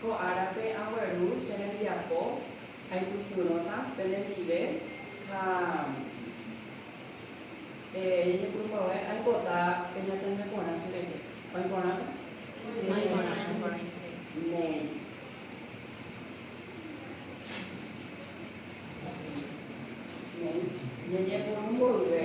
Ko árape agueru che rembiapo, aipysyrõta penendive ha eñepyrũmbava'e aipota pe ñatende porã che rehe. Oĩ porãme? Oĩ porã, oĩ porã ijehe. Néi. Néi. Ñeñepyrũ mboyve.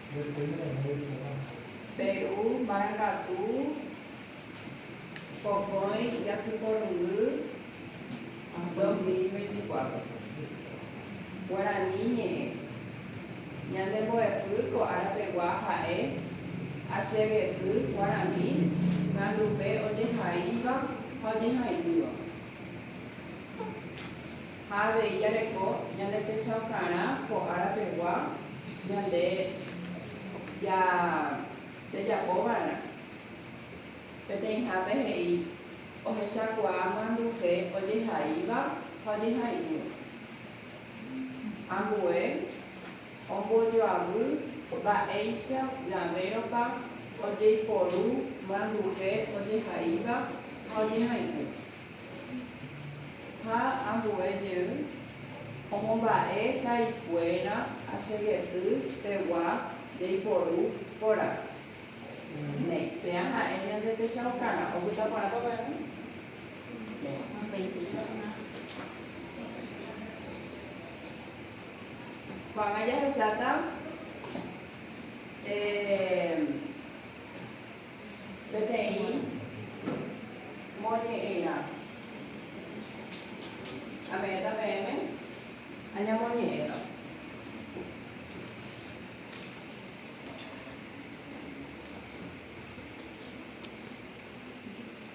Peru marangatu pokõi jasy porundy 2024. Guarani ñe'ẽ. Ñande mbo'epy ko ára pegua ha'e Achegety Guarani nandupe ojehaíva ha ojehai'ỹva. Ha avei jareko ñande techaukarã ko ára pegua ñande ja pejapo va'erã. Peteĩhápe he'i ohechakuaa myanduve ojehaíva ha ojehai'ỹva. Ambue ombojoavy mba'éicha javérõpa ojeiporu myanduve ojehaíva ha ojehai'ỹva. Ha ambue jey omomba'e ha'ikuéra asegety pegua jaiporu porã. Néi, péa ha'e ñande techaukarã opyta porã peve. Ko'ág̃a jahesáta. Peteĩ moñe'ẽrã. Ame'ẽta peẽme añamoñe'ẽta.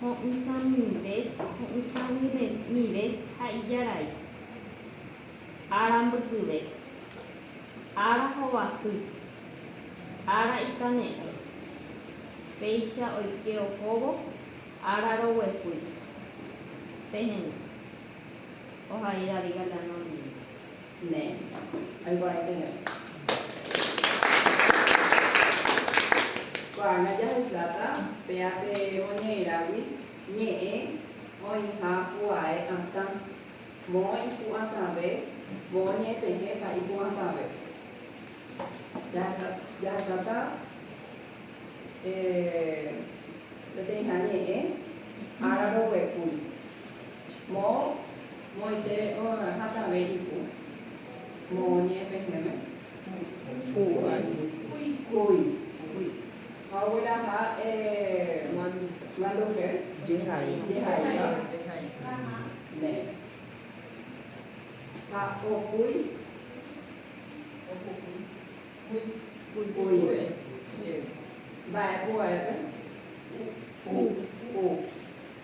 Ho'ysãmive, ho'ysãmive ha ijarai. Ára mbykyve. Ára hovasy. Ára ikane'ẽ. Péicha oike ohóvo ára roguepy. Pehendu. Ohai David Galeano ndive. Ne. Aikuaaiterei. Ko'ág̃a jahecháta péa pe moñe'ẽrágui ñe'ẽ oĩha pu'ae atã, moõ ipu'atãve, moõ ñe'ẽpehẽpa ipu'atãve. Jahasa, jahecháta peteĩha ñe'ẽ ára roguepúi, moõ. Moite oĩ hatãve ipu. Moõnie pehẽme. Kuy. Kuy. Ha ogueraha manduhe. Jehai. Ne. Ha okúi. Kuive. Mba'e pu'aépe. Ku.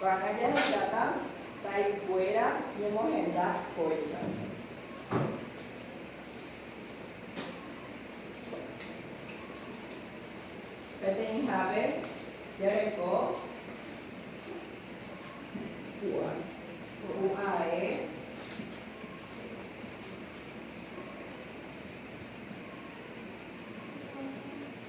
Va'erã jahendáta taikuéra ñemohenda kóicha. Peteĩhápe jareko pu'ae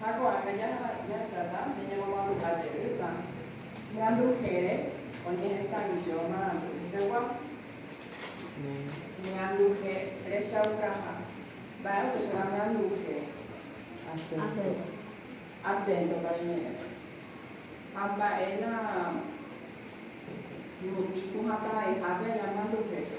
Ha ko'ág̃a jahecháta nde ñamomandu'a jeýta ñandujére oñehesa'ỹijo marandu hesegua. Ñanduje rechaukaha. Mba'e upéicharõ ñanduje? Asénto pa reñe'ẽpe. Ha mba'e la rupi pohãtavaihápe añamandujépe?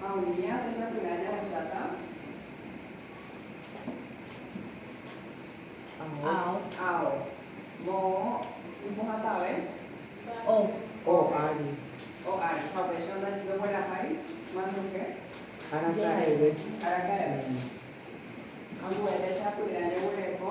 Ha umi ápe sapy'a jahecháta ao, moõ ipohãtave o ári. Ha upéicha ndoguerahái manduke araka'eve. Ambuépe sapy'a jeguereko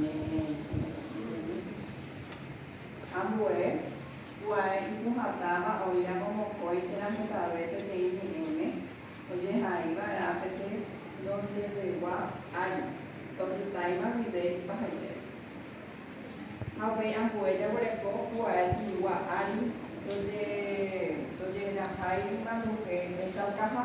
Ne Ñanderuete. Ambue, pu'ae ipohãtáva oĩramo mokõi térã hetave peteĩ ñe'ẽme ojehaiva'erã pe tenondevegua ári, opytáima guive ipahaite. Ha upéi ambue jaguereko pu'ae tĩgua ári tojehejahái manduhe rechaukaha.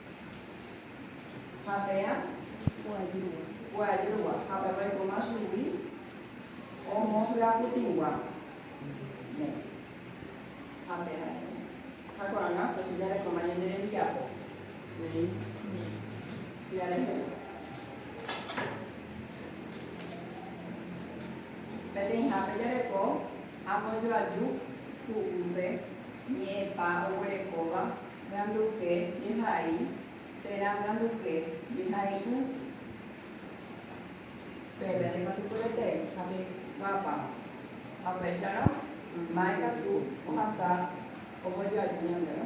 Ha peã? Guajýgua. Ha pepe oikóma chugui omohyaputĩgua. Ne. Ha peã? Ne. Ha ko'ág̃a José jarekóma ñande rembiapo. Neĩ. Jarehegua. Peteĩhápe jareko ambojoaju ku'úpe ñe'ẽpa oguerekóva. Ganduje, Jehai, térã ganduje, jehai'ỹ. Pépe nde katu pya'ete ha pe pápa. Ha upéicharõ, ma'e katu ohasa ombojoaju ñandéve.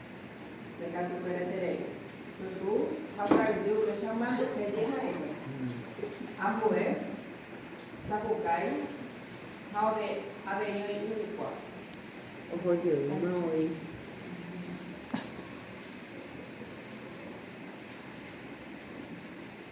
Ndekatupereterei. Pytu ha ka'aguy upéicha mante peje ha'ekue. Ambue, ndapukái ha ove avei oĩ yvykuaa. Oho jeýma oĩ.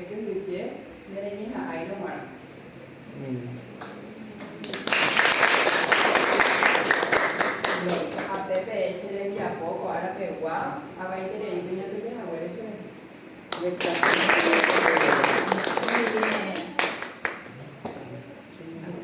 Ekyhyje, nereñeha'ãirõ g̃uarã. Ape peẽ che rembiapo ko ára pegua, avaiterei peñotỹke haguére che rehe. Ojejapo hag̃ua ko Ñandejára.